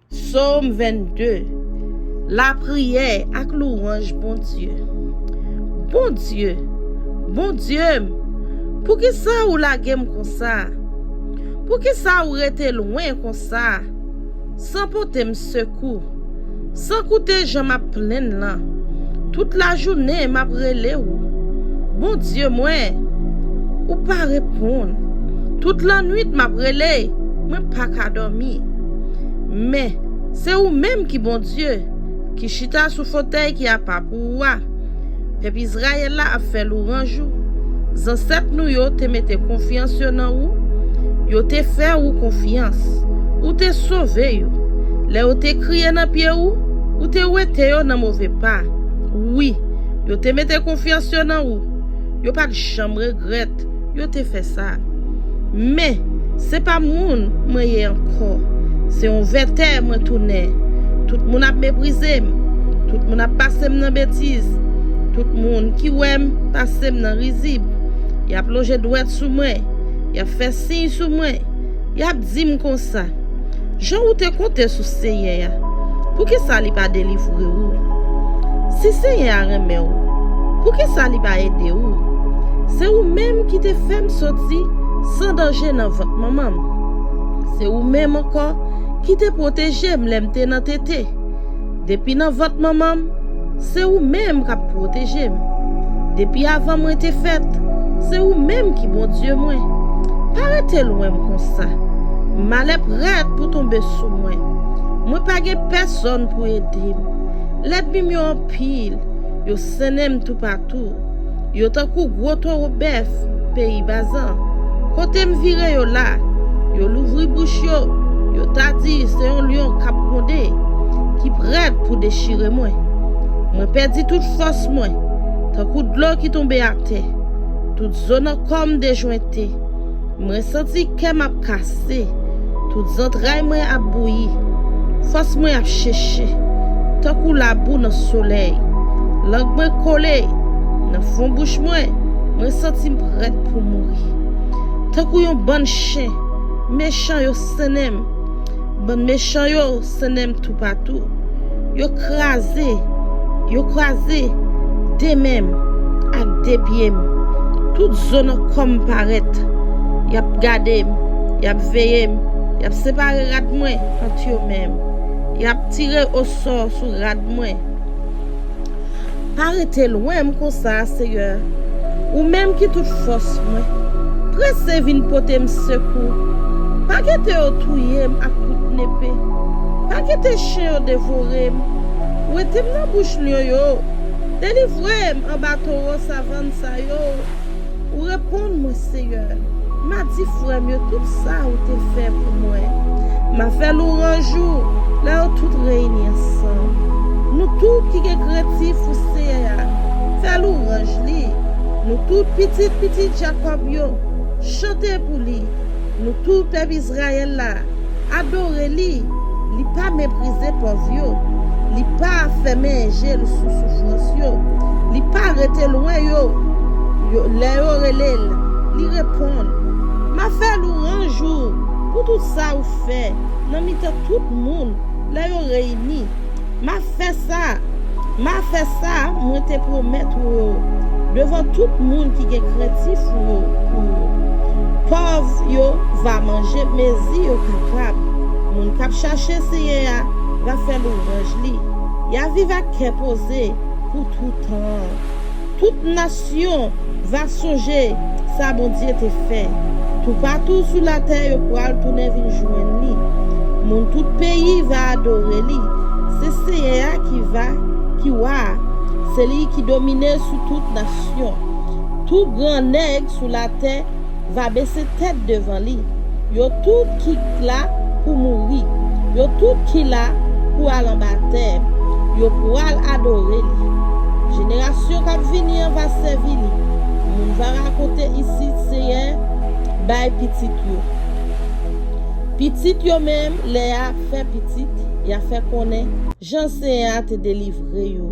Psaume 22 Lapriyè ak louwanj Bondye Bondye, Bondye m, poukisa ou lage m konsa? Poukisa ou rete lwen konsa, san pote m sekou? San koute jan m ap plenn lan, tout lajounen m ap rele ou, Bondye mwen, ou pa reponn. Tout lannwit m ap rele, mwen pa ka dòmi. Men, se ou menm ki Bondye, ki chita sou fotèy ki apa pou ou a. Pèp Izrayèl la ap fè louranj ou. Zansèt nou yo te mete konfyans yo nan ou, yo te fè ou konfyans. Ou te sove yo. Lè yo te kriye nan pye ou, ou te wete yo nan move pa. Wi, yo te mete konfyans yo nan ou. Yo pa t janm regrèt. yo te fè sa. Men, se pa moun mwen ye ankò. Se yon vètè mwen tounen. Tout moun ap meprize m. Tout moun ap pase m nan betiz. Tout moun ki wè m pase m nan rizib. Y ap lonje dwèt sou mwen. Y ap fè siy sou mwen. Y ap di m konsa. Jan ou te konte sou Senyè a, poukisa li pa delivre ou? Si Senyè a renmen ou, poukisa li pa ede ou? Se ou menm ki te fè m soti san danje nan vant manman m. Se ou menm ankò ki te pwoteje m lè m te nan tete. Depi nan vant manman m, se ou menm k ap pwoteje m. Depi avan mwen te fèt, se ou menm ki Bondye mwen. Pa rete lwen m konsa. Malè prèt pou tonbe sou mwen. Mwen pa gen pèsòn pou ede m. Lèdmi m yo anpil, yo sennen m toupatou. Yo tankou gwo towo bèf peyi Bazan. Kote m vire yo la, yo louvri bouch yo, yo ta di se yon lyon k ap gwonde, ki prèt pou dechire mwen. Mwen pèdi tout fòs mwen, tankou dlo ki tonbe atè, tout zo nan kò m dejwente. Mwen santi kè m ap kase. Tout zantray mwen ap bouyi. Fòs mwen ap cheche. Tankou labou nan solèy. Lang mwen kole nan fon bouch mwen. Mwen santi m prèt pou mouri. Tankou yon bann chen mechan yo sennen m. Bann mechan yo Sanem toupatou Yo kraze Yo kraze De men m Ak de pye m Tout zo nan kò m parèt Y ap gade m Y ap veye m Y ap separe rad mwen ant yo men Y ap tire osò sou rad mwen. Pa rete lwen m konsa, Seyè. Ou menm ki tout fòs mwen, prese vin pote m sekou. Pa kite yo touye m ak kout nepe. Pa kite chen yo devore m. Wete m nan bouch lyon yo. Delivre m anba towo savann sa yo. Ou reponn mwen, Seyè. M a di frè m yo tout sa ou te fè pou mwen. M a fè louranj ou lè yo tout reyini ansanm. Nou tout ki gen krentif ou, Seyè a, fè louranj li. Nou tout pitit pitit Jakòb yo, chante pou li. Nou tout pèp Izrayèl la. Adore li, li pa meprize pòv yo, li pa fèmen je l sou soufrans yo, li pa rete lwen yo, lè yo rele l, li reponn. M ap fè louranj ou pou tout sa ou fè nan mitan tout moun lè yo reyini. M ap fè sa! M a fè sa Mwen te pwomèt ou yo devan tout moun ki gen krentif ou yo pou ou. Pòv yo va manje mezi yo kapab. Moun k ap chache Senyè a va fè lwanj li. Y a viv ak kè poze pou toutan. Tout nasyon va sonje sa Bondye te fè. Toupatou sou latè yo pral tounen vin jwenn li. Moun tout peyi va adore li. Se Senyè a ki va, ki Wa a. Se li ki domine sou tout nasyon. Tou gran nèg sou latè Va bese tèt devan li. Yo tout ki la pou mouri. Yo tout ki la pou al anba tè. Yo pral adore li. Jenerasyon k ap vini an va sèvi li. Moun va rakonte isit Seyè bay pitit yo. Pitit yo menm lè y a fè pitit, y a fè konnen. Jan Senyè a te delivre yo,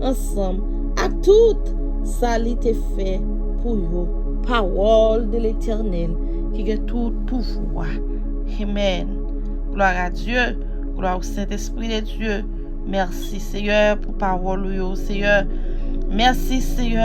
ansanm ak tout sa Li te fè pou yo. Pawòl de Letènèl ki gen tout pouvwa. Amen! Glwa a Dye! Glwa o Sentespri de Dye! Mèsi, Seyè, pou pawòl Ou yo, Seyè. Mèsi, Seyè.